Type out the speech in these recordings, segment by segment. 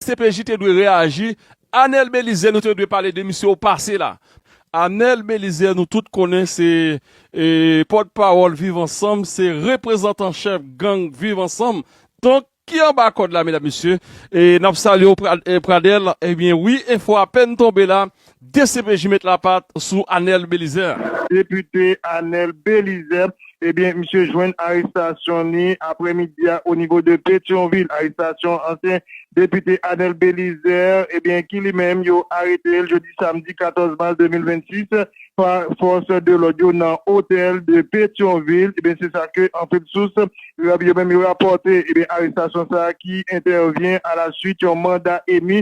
CPJ te dwe reaji. Anel Belizaire nou te dwe pale de misye ou pase la. Anel Belizaire nou tout konnen se pòt pawòl viv ansanm se reprezantan chèf gang viv ansanm donk ki anba kòd la medam mesye nap salyew Pradel ebyen wi enfo apèn tonbe la Dcpj met lapat sou Anel Belizaire. Depite Anel Belizaire ebyen misye jwenn arestasyon li aprè midi a o nivo de Petyonvil. Arestasyon ansyen depite Anel Belizaire ebyen ki li menm yo aretel jodi samdi 14 mas 2026 pa fòs de lòd yo nan otèl de Petyonvil ebyen se sa ke anpil sous yo menm yo rapòte ebyen arestasyon sa ki entèvyen a la swit yon manda emi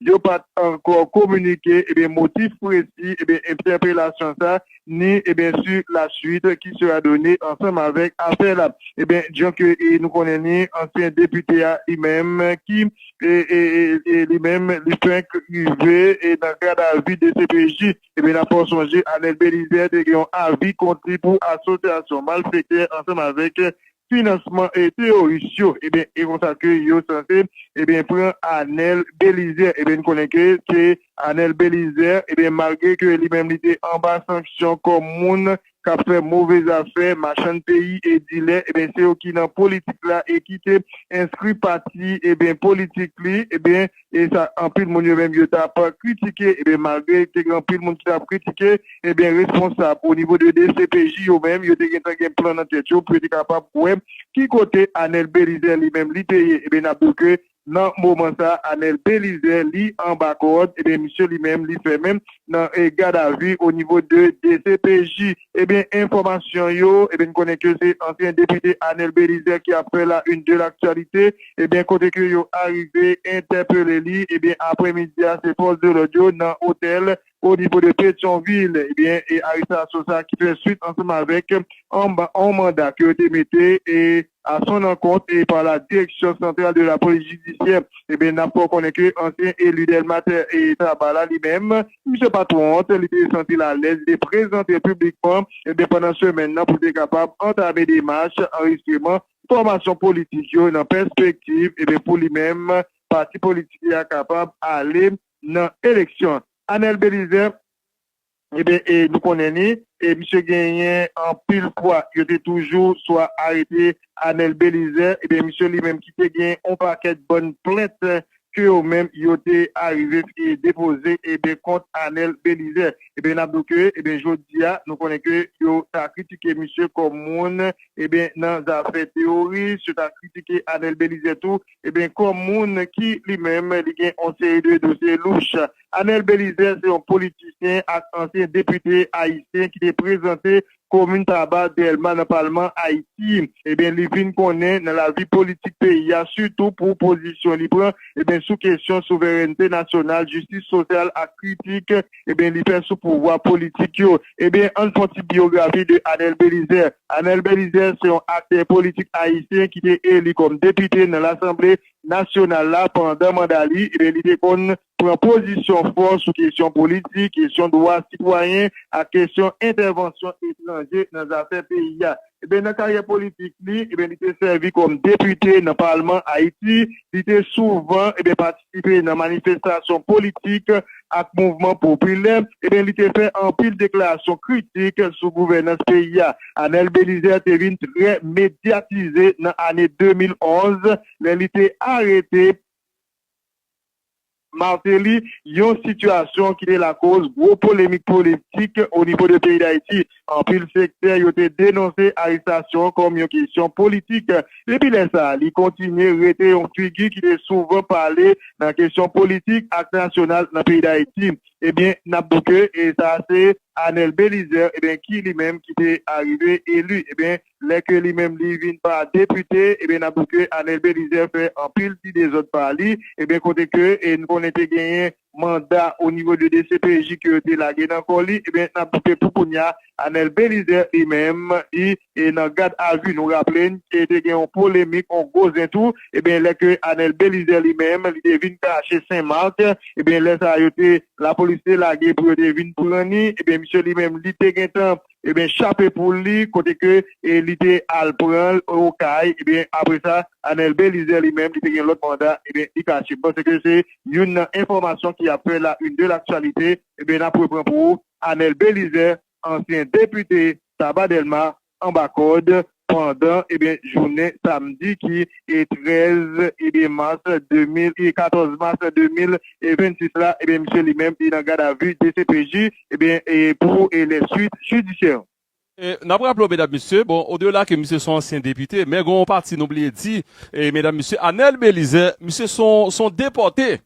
yo pa t ankò kominike ebyen motif presi ebyen entèpelasyon sa ni ebyen si la suite ki sera done ansanm avèk afè la ebyen jan ke nou konnen ni ansyen depite a li menm ki e li menm li fenk rive e nan gad a vi dcpj ebyen na fè w sonje Anèl Belizè te gen yon avi kont li pou asosyasyon malfektè ansanm avèk finansman teyoris yo ebyen e konsa ke yo sanse ebyen pran Anel Belizè ebyen n konnen ke se Anel Belizè ebyen malgre ke li menm li te anba sanksyon kòm moun kap fè move zafè machann peyi e dilè ebyen se yo ki nan politik la e ki te enskri pati ebyen politik li ebyen e sa anpil moun yo menm yo t ap kritike e malgre te gen anpil moun ki t ap kritike e responsab o nivo de dcpj yo menm yo te gentan gen plan nan tèt yo pou yo te kapab wè ki kote Anèl Belizè li menm li te ye e n ap di w ke nan moman sa Anèl Belizè li anba kòd e misye li menm li fèmen nan gadavi o nivo de dcpj e enfòmasyon yo e n konnen ke se ansyen depite Anèl Belizè ki ap fè la une de l'actualité. ebyen kote ke yo arive entèpele li ebyen aprè midi a se fòs de lòd yo nan otèl o nivo de Petyonvil ebyen e arestasyon sa ki fè swit ansanm avèk anba on manda ke yo te mete e a son ankont e pa la direksyon santral de la polis jidisyè ebyen nap fè w konnen ke ansyen eli Dèlma tè e Taba la li menm misye pat wont li te santi l alèz li te prezante piblikman ebyen pandan semèn nan pou l te kapab antame demach anrejistreman fòmasyon politik yo nan pèspektiv ebe pou li menm pati politik li a kapab ale nan eleksyon. Anèl Belizè ebe e nou konnen li e misye genyen anpil fwa yo te toujou swa arete Anèl Belizè ebe misye li menm ki te gen yon pakèt bòn plent ke yo menm yo te arive depoze eben kont Anel Belizè. Eben nap di w ke eben jodi a nou konnen ke yo ta kritike misye kòm moun eben nan zafè teworis, yo ta kritike Anel Belizè tou eben kòm moun ki li menm li gen yon seri de dosye louch. Anel Belizè se yon politisyen ak ansyen depite ayisyen ki te prezante Komin Taba, Dèlma nan palman Ayiti, ebyen li vin konnen nan lavi politik peyi a sitou pou pozisyon li pran ebyen sou kesyon souverènte nasyonal, jistis sosyal ak kritik ebyen li fè sou pouvwa politik yo. Ebyen ann fon ti biyografi de Anèl Belizè. Anèl Belizè se yon aktè politik ayisyen ki te eli kòm depite nan lasanble nasyonal la pandan manda li ebyen li te konn Pran pozisyon fò sou kesyon politik, kesyon dwa sitwayen ak kesyon entèvansyon etranje nan zafè peyi a. Enben, nan karyè politik li, enben li te sèvi kòm depite nan palman Ayiti. Li te souvan, enben patisipe nan manifestasyon politik ak mouvman popilè. Enben li te fè anpil deklarasyon kritik sou gouvènans peyi a. Anèl Belizè te vin trè medyatize nan ane 2011 lè li te arete. Martelly, yon sitiyasyon ki te lakoz gwo polemik politik o nivo de peyi Dayiti. Anpil sektè yo te denonse arestasyon an kòm yon kesyon politik. Depi lè sa a, li kontinye rete yon figi ki te souvan pale nan kesyon politik ak nasyonal nan peyi Dayiti. Ebyen, n ap di w ke sa a se Anel Belizaire, ebyen ki li menm ki te arive eli, ebyen lè ke li menm li vin pa depite ebyen nap di ke Anel Belizaire fè anpil ti dezòd pa li ebyen kote ke nou konnen te genyen manda o nivo de dcpj ke yo te lage nan kò li ebyen nap di ke pou kounya Anel Belizaire li menm li nan gad a vi nou raple n ke te gen yon polemik yon gwo zen tou ebyen lè ke Anel Belizaire li menm li te vin kache Sen Mak ebyen lè sa yo te lapolis te lage pou yo te vin pran ni ebyen misye li menm li te gentan ebyen chape poul li kote ke li te al pranl okay ebyen apre sa Anel Belizaire li menm li te gen lòt manda ebyen li kache m'panse ke se youn nan enfòmasyon ki ap fè la une de l'actualité ebyen nap repran pou ou Anel Belizaire ansyen depite Sabat Delma anba kòd pandan jounen samdi ki 13 mas 2026 la, misye li menm nan gad a vi dcpj pou lè swit jidisyè. N ap raple w medam mesye, bon odela ke misye son ansyen depite, men gen yon pati nou bliye di medam mesye, Anel Belizè, misye son depòte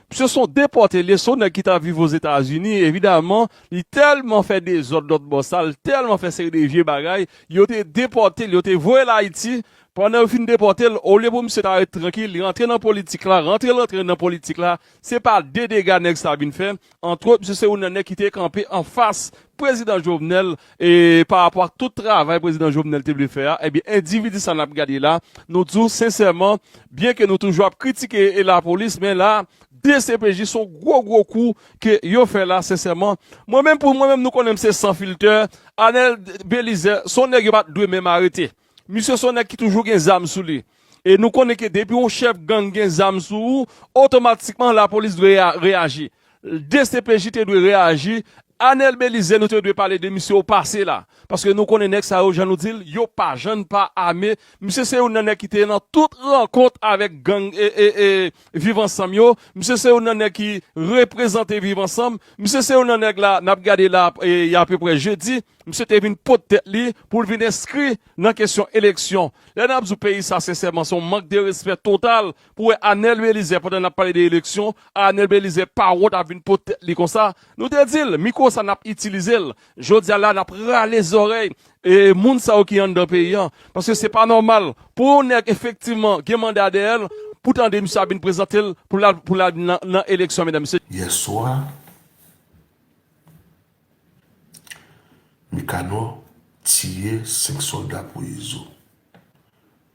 Misye son depòte l ye, son nèg ki ta viv Ozetazini, evidaman li tèlman fè dezòd lòt bò sa, li tèlman fè seri de vye bagay, yo te depòte l, yo te voye l Ayiti, pandan yo fin depòte l, olye pou misye ta ret trankil, li rantre nan politik la, rantre l rantre nan politik la, se pa de dega nèg sa vin fè, Antwot, misye se youn nan nèg ki te kanpe anfas Prezidan Jovenel e pa rapò ak tout travay Prezidan Jovenel te vle fè a, ebyen endividi sa n ap gade la, nou di w sensèman, byen ke nou toujou ap kritike lapolis, men la dcpj s on gwo gwo kou ke yo fè la sensèman. Mwen menm pou mwen menm nou konnen m se san filtè, Anèl Belizè s on nèg yo pa t dwe menm arete. Misye son nèg ki toujou gen zam sou li. E nou konnen ke depi yon chèf gang gen zam sou ou, otomatikman lapolis dwe reyaji. Dcpj te dwe reyaji. Anel Belizaire nou te dwe pale de misye o pase la. Paske nou konnen nèg sa yo jan nou di l, yo pa jann pa ame. Misye se youn nan nèg ki te nan tout rankont avèk gang Viv ansanm yo, misye se youn nan nèg ki reprezante viv ansanm, misye se youn nan nèg la nap gade la y apeprè jedi, misye te vin pot tèt li poul vin enskri nan kesyon eleksyon. Lè nap di w peyi sa sensèman son mank de respè total pou wè Anel Belizè pandan nap pale de eleksyon, Anel Belizè pa wont ap vin pot tèt li konsa, nou te di l mikwo sa nap itilize l, jodi a la nap rale zòrèy E moun sa yo ki anndan peyi an. Paske se pa nòmal pou yon nèg efektivman gen manda dèyè l, pou tande misye ap vin prezante l pou l al nan eleksyon medam mesye. Yèswa, Mekanò tiye 5 sòlda pou Izo.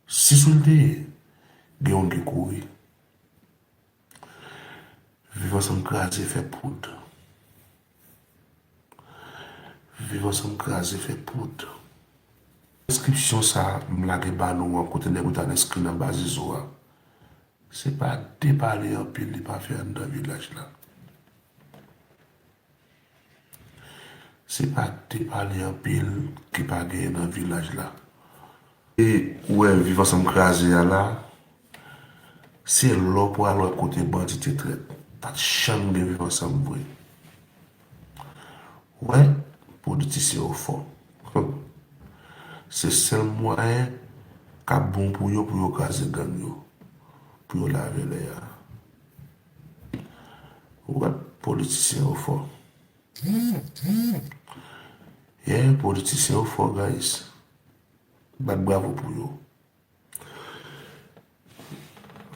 6 ou l te ye? Gen yon ki kouri. Viv ansanm kraze fè poud. Viv ansanm kraze fè poud. Enskripsyon sa m lage ba nou an kote nèg yo t al enskri nan baz izo a se pa depale anpil li pa fè anndan vilaj la. Se pa te pale anpil ke pa genyen nan vilaj la. E ou wè viv ansanm kraze a la, se la w pral wè kote bandi te trèt. Pa t janm gen viv ansanm vre. Ou wè, politisyen yo fò. Se sèl mwayen k ap bon pou yo, pou yo kraze gang yo, pou yo lave lè a. Wap politisyen yo fò. Yè politisyen yo fò guys. Bat bravo pou yo.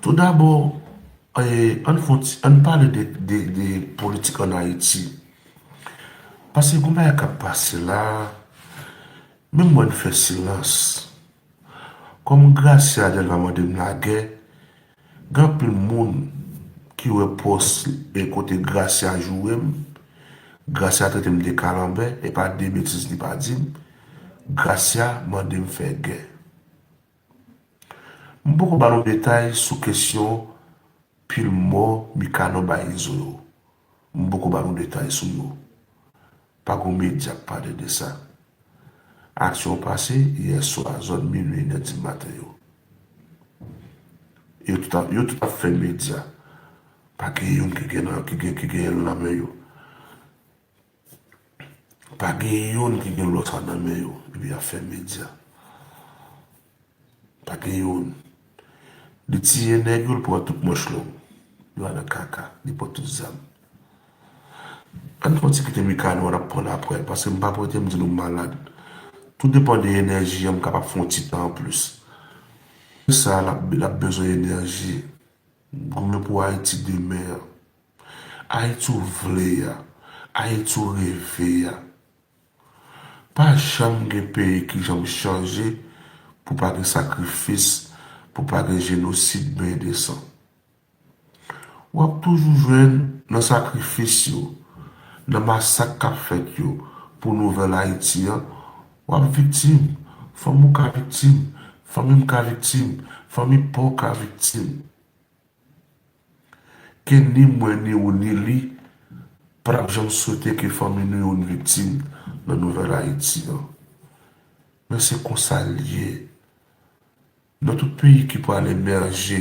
Tou dabò an fon ti an pale de politik an ayiti. Pase kou bagay kap pase la. Menm mwen fè silans. Kòm gracia delva mande m lagè. Gen anpil moun ki wè pòs men kote Gracia joure m, Gracia trete m de kalanbè e pa de betiz li pa di m, Gracia mande m fè gè. M poko ba nou detay sou kesyon pil mò Mikano bay Izo yo, m poko ba nou detay sou yo. Pa gon medya k pale de sa. Aksyon pase yè swa zòn minwi inè di maten yo. Yo tout ap yo tout ap fè medya. Pa gen youn ki gen nan ki gen ki gen l nan men yo. Pa gen youn ki gen lòt sa nan men yo epi y ap fè medya. Pa gen youn. Li tiye nèg yo, li pran tout manch long. Yo al nan kaka. Li pran tout zam. Ann fè yon ti kite Mikano an, n ap pran l aprè. Paske m pa prete m di nou m malad. Tou depan de enèji an, m kapab fè yon ti tan anplis. Pou sa, l ap bezwen enèji. Goumen pou Ayiti demen an. Ayiti ou vle a. Ayiti ou reve a. Pa janm gen peyi ki janm chanje pou pa gen sakrifis, pou pa gen jenosid benyen de san. W ap toujou jwenn nan sakrifis yo, nan masak k ap fèt yo pou nouvèl Ayiti an, w ap viktim, fanmi w ka viktim, fanmi m ka viktim, fanmi pa w ka viktim. Ke ni mwen ni ou ni li pa tap janm swete ke fanmi nou youn viktim nan nouvèl Ayiti an. Men se konsa l ye nan tout peyi ki pral emèje.